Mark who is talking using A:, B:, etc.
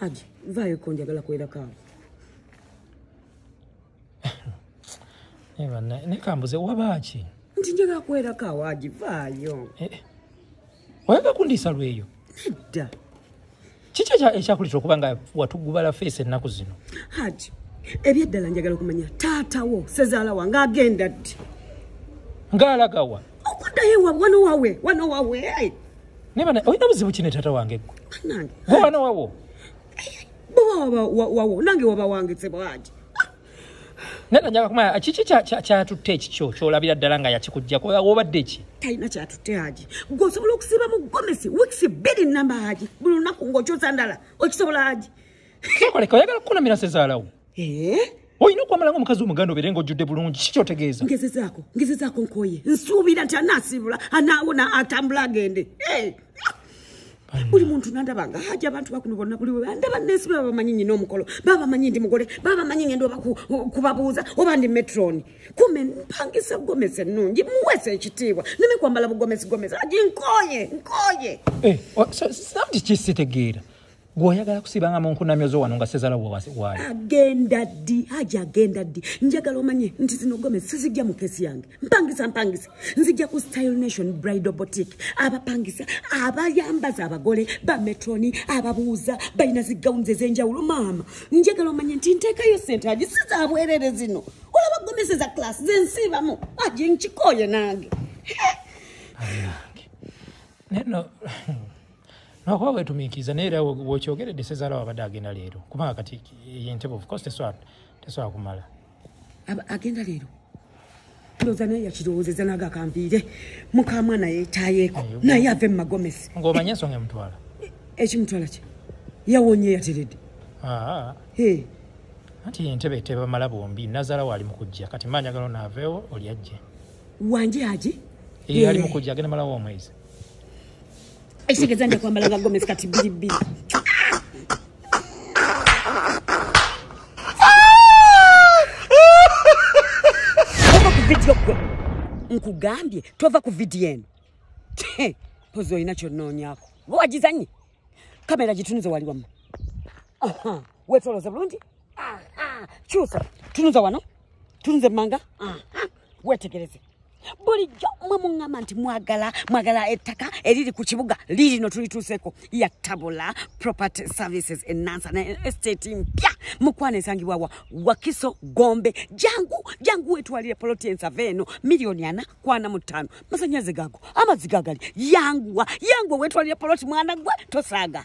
A: Haji, vaayo ko njagala kuwerako awo.
B: Naye bannaye, naye kambuze waba ki? Nti njagala kuwerako
A: awo Haji, vaayo. Eh, eh.
B: oyagala kundiisa lweyo nedda kiki ekyakulitira okuba nga watugubala feesi ennaku zino haji
A: ebyeddala njagala okumanya taatawo sezaala wange agenda ddi
B: ng'alagawa okuddayo ewa
A: wano wawe wano wawe naye bana olina
B: buzibu kine taata wange gwe gwe wano
A: wawo
B: eh, bwe
A: wawo nange waba wange sebwaji
B: nana njaga kumanya kiki kyatutte ekikyo kyolabira ddala nga yakikujjako obadde ki talina kyatutte haji
A: gwe osobola okusiiba mu gomesi weeks bbiri namba haji buli lunaku ngaokyoza ndala okisobola haji kikoleka oyagala
B: kukunamira sezaalawo eh? olina okwamala nga omukazi omuganda obeere nga ojjudde bulungi ki kyotegeeza ngezezaako ngezezaako
A: nkoye nsuubira nti anaasiibula anaawona atambula agende eh! buli muntu nandaba nga haja abantu bakuno bonna buli webandaba nensi bebabamanyi nyina omukolo babamanyi ndi mugole babamanyi ngenda oba kubabuuza oba ndi metroni kume mpangisa gomesi ennungi muwesa ekitiibwa neme kwambala bugomesi gomesi aji nkoye nkoye eh,
B: sisabti kisitegeera gwe oyagala kusibanga mu nkunamyo zo wano nga sezala wawaali agenda ddi
A: haji agenda ddi njagala omanye nti zino gome sizijja mu kesi yange mpangisa mpangisa nzijja ku style nation bridal botic abapangisa abayambaza abagole bametroni ababuuza balina zigawunzi ez'enjawulo maama njagala omanye nti nteekayo sente haji sizabwerere zino olaba gomese za class zensiibamu haji nkikooye nange
B: naye no lwakuba wetumiikiriza naye era wokyogeredde sezaala wabadde agenda leero kubanga kati yentebe ofcourse tesobola kumala agenda
A: leero ndoza naye yakirowoozeza naga akampiire mukamwana yetayeeko naye ave mu magomesi ngaomanye ensonga emutwala
B: ekimutwala
A: kye yawonye yateredde ah.
B: anti entebe tebamala bombi nazaala waali mukujja kati manyagalo naaveewo oli ajje wanje
A: aji ali mukujja
B: agenda malawo omwezi
A: ekitegeeza nja kwambala nga gomesi kati bbiri bbiri ova ku vidiyo gwe nkugambye tova ku vidiyo eno pozi olina kyonoonyako gwe wagizanye kamera gitunuze wali wamma wetoloze bulungi kyusa tunuza wano tunuze manga wetegereze bulijjo mwe muŋŋamba nti mwagala mwagala ettaka eriri ku kibuga liirino tulituuseko ya tabula property services enansa ne estate mpya mukwana esangibwa wa wakiso gombe jangu jangu wetwalire poloti ensava eno miliyoni ana kwana mu ttaano masanyaze gago amazzi gagali yanguwa yanguwa wetwalire poloti mwana gwe tosaaga